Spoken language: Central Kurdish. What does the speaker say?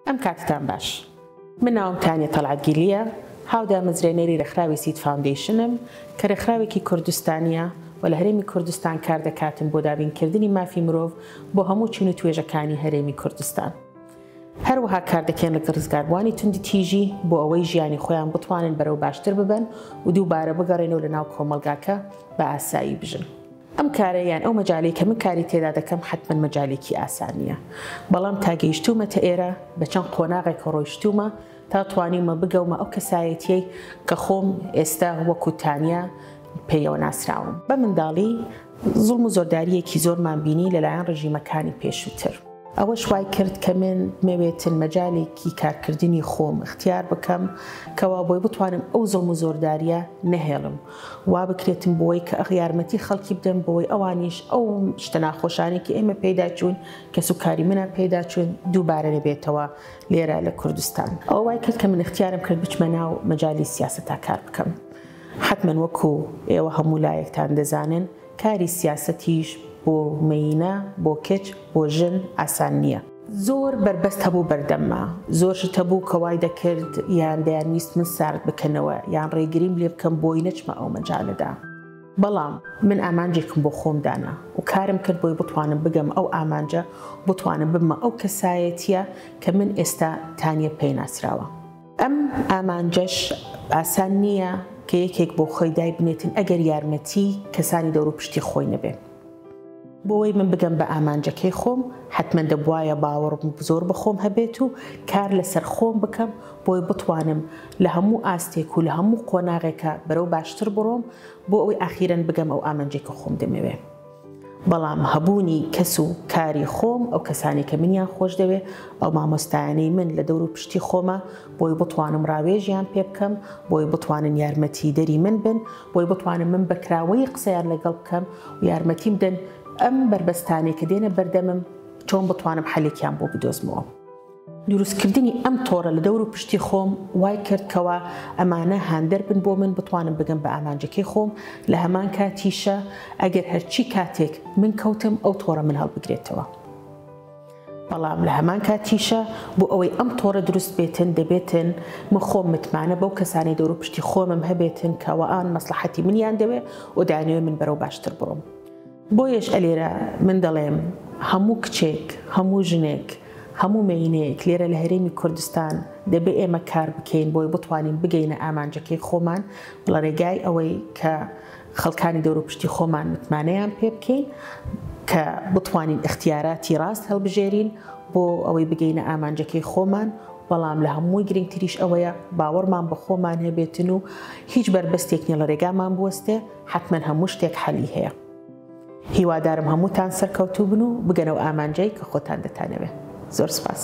ئەم کاتتان باش من ناوم تانیە تەلعاتگیلیە هاودامەزرێنەری رێکخراوی سید فاوندیشنم کە رێکخراوێکی کوردستانیە و لە هەرێمی کوردستان کار دەکاتن بۆ دابینکردنی مافی مرۆڤ بۆ هەموو چون و توێژەکانی هەرێمی کوردستان. هەروەها کار دەکەن لەگە ڕزگاربووانی توندی تیژی بۆ ئەوەی ژیانی خۆیان بتوانن بەرەو باشتر ببن و دووبارە بگەڕێنەوە لە ناو کۆمەلگاکە بە ئاسایی بژن. ئەم کارە یان ئەو مەجالەی کە من کاری تێدا دەکەم حەتمەن مەجالێکی ئاسان نییە، بەڵام تا گەیشتوومەتە ئێرە بە چەند قۆناغێکەوە ڕۆیشتوومە تا توانیومە بگەومە ئەو کەسایەتییەی کە خۆم ئێستا وەکوو تانیا پێیەوە ناسراوم. بە منداڵی زوڵم و زۆردارییەکی زۆرمان بینی لە لایەن ڕژیمەکانی پێشووتر، ئەوەش وای کرد کە من بمەوێتن مەجالێکی کارکردنی خۆم ئیختیار بکەم کە وا بۆی بتوانم ئەو زوڵم و زۆردارییە نەهێڵم وا بکرێتن بۆی کە یارمەتی خەڵکی بدەن بۆی ئەوانیش ئەو شتە ناخۆشانەی کە ئێمە پێیدا چووین کەس و کاری منان پێیدا چوون دووبارە نەبێتەوە لێرە لە کوردستان ئەوە وای کرد کە من اختیارم کرد بچمە ناو مەجالی سیاسەتا کار بکەم حەتمەن وەکو ئێوە هەموو لایەکتان دەزانن کاری سیاسەتیش بۆ مێینە بۆ کچ بۆ ژن ئاسان نییە. زۆر بەربەست هەبوو بەردەمما، زۆر شت هەبوو کە وای دەکرد یان دەیانویست من سارد بکەنەوە یان ڕێگریم لێ بکەن بۆی نەچمە ئەو مەجالەدا. بەڵام من ئامانجێکم بۆ خۆم دانا و کارم کرد بۆی بتوانم بگەمە ئەو ئامانجە و بتوانم ببمە ئەو کەسایەتییە کە من ئێستا تانیە پێی ناسراوە. ئەم ئامانجەش ئاسان نییە کە یەکێک بۆ خۆی دایبنێتن ئەگەر یارمەتیی کەسانی دەوروپشتی خۆی نەبێ. بۆوەی من بگەم بە ئامانجەکەی خۆم، حەتمەن دەبوایە باوەڕ زۆر بە خۆم هەبێت و کار لە سەر خۆم بکەم بۆی بتوانم لە هەموو ئاستێک و لە هەموو قۆناغێکا بەرەو باشتر بڕۆم بۆ ئەوەی ئاخیرەن بگەم ئەو ئامانجەی کە خۆم دەمەوێ. بەڵام هەبوونی کەس و کاری خۆم، ئەو کەسانەی کە منیان خۆش دەوێ، ئەو مامۆستایانەی من لە دەورو پشتی خۆمە، بۆی بتوانم ڕاوێژیان پێ بکەم، بۆی بتوانن یارمەتیدەری من بن، بۆی بتوانم من بە کراوەیی قسەیان لەگەڵ بکەم و یارمەتیم بدەن ئەم بەربەستانەی کە دێنە بەردەمم چۆن بتوانم حەلێکیان بۆ بدۆزمەوە. دروستکردنی ئەم تۆڕە لە دەور و پشتی خۆم وای کرد کەوا ئەمانە هاندەر بن بۆ من بتوانم بگەم بە ئامانجەکەی خۆم لە هەمان کاتیشە ئەگەر هەرچی کاتێک من کەوتم ئەو تۆڕە من هەڵبگرێتەوە بەڵام لە هەمان کاتیشە بۆ ئەوەی ئەم تۆڕە دروست بێتن دەبێتن من خۆم متمانە بەو کەسانی دەور و پشتی خۆمم هەبێتن کەوا ئان مەسلحەتی منیان دەوێ و دانوێ من بەرەو باشتر بڕۆم. بۆیەش ئەلێرە من دەڵێم هەموو کچێک، هەموو ژنێک، هەموو مێینەیەک لێرە لە هەرێمی کوردستان دەبێ ئێمە کار بکەین بۆی بتوانین بگەینە ئامانجەکەی خۆمان ڵەرێگای ئەوەی کە خەڵکانی دەوروپشتی خۆمان متمانەیان پێ بکەین کە بتوانین ئیختیاراتی ڕاست هەڵبژێرین بۆ ئەوەی بگەینە ئامانجەکەی خۆمان بەڵام لە هەمووی گرنگتریش ئەوەیە باوەڕمان بە خۆمان هەبێتن و هیچ بەربەستێک نیە ڵەرێگامان بوەستێ. حەتمەن هەموو شتێک حەلی هەیە. هیوادارم هەمووتان سەرکەوتوو بن و بگەنە و ئامانجەی کە خۆتان دەتانەوێ. زۆر سپاس.